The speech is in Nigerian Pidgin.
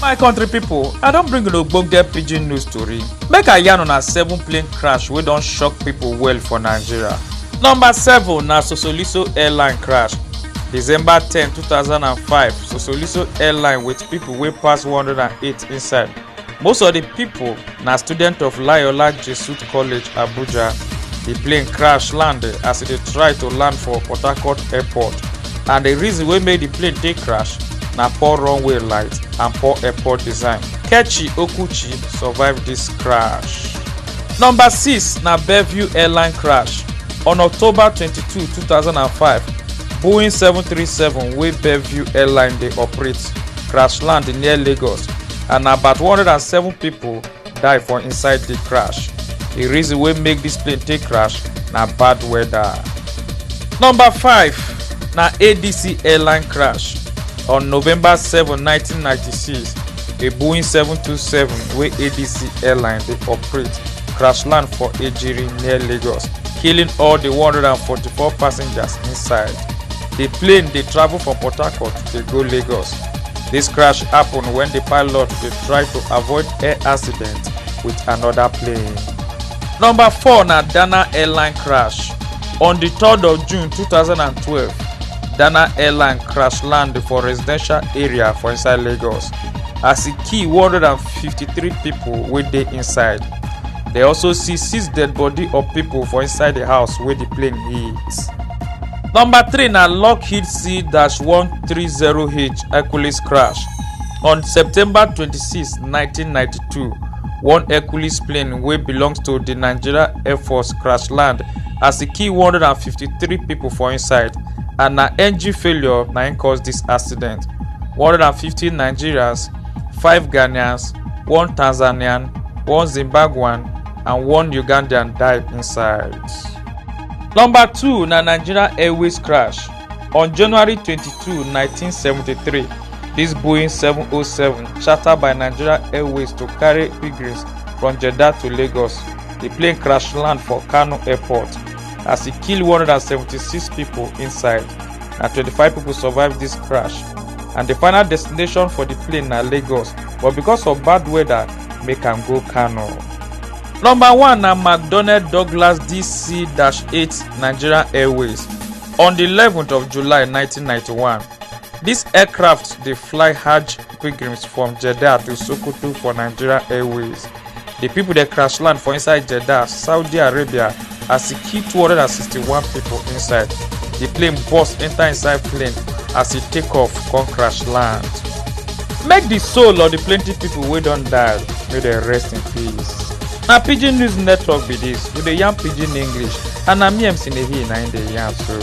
my country pipo i don bring una ogbonge pidgin news tori make i yarn una seven plane crash wey don shock pipo well for nigeria number seven na sosoliso airline crash december ten two thousand and five sosoliso airline wit pipo wey pass one hundred and eight inside most of di pipo na students of layola jesuit college abuja di plane crash land as e dey try to land for port harcourt airport and di reason wey make di plane take crash na poor runway light and poor airport design kechi okuchi survive dis crash. number six na bellevue airline crash on october twenty-two two thousand and five boeing seven three seven wey bellevue airline dey operate crash land near lagos and na about 107 pipo die for inside di crash di reason wey make dis plane take crash na bad weather. number 5 na adc airline crash on november 7 1996 a boeing 727 wey adc airline dey operate crash land for ejiri near lagos killing all di 144 passengers inside di plane dey travel from port harcourt dey go lagos. Dis crash happen wen di pilot dey try to avoid air accident wit anoda plane. Number four na Dana airline crash. On di third of June two thousand and twelve, Dana airline crash land for residential area for inside Lagos as e kill one hundred and fifty-three pipo wey dey inside. Dem also see six dead body of pipo for inside di house wey di plane hit. Number three na Lockheed C-1 30H Hercules crash. On September 26, 1992, one Hercules plane wey belong to di Nigeria Air Force crash land as e kill 153 pipo for inside and na engine failure na im cause dis accident. 150 Nigerians, five Ghanaians, one Tanzanian, one Zimbabwean and one Ugandan die inside. Number two na Nigeria Airways crash. On January 22, 1973, this Boeing 707 chartered by Nigeria Airways to carry pilgrims from Jeddah to Lagos. The plane crash land for Kano Airport as e kill 176 people inside. Na 25 people survive this crash and the final destination for the plane na Lagos but because of bad weather make am go Kano. Number one na McDonnell Douglas DC-8 Nigerian Airways. On di 11th of July 1991, dis aircraft dey fly Hajj pilgrims from Jeddah to Sokoto for Nigeria Airways. Di pipo dey crash land for inside Jeddah, Saudi Arabia as e kill 261 pipo inside. Di plane burst enta inside plane as e take off come crash land. Make di soul of di plenty pipo wey don die make dem rest in peace. na pidgin news network be dis we dey yarn pidgin english and na me mc nehi na im dey yarn so.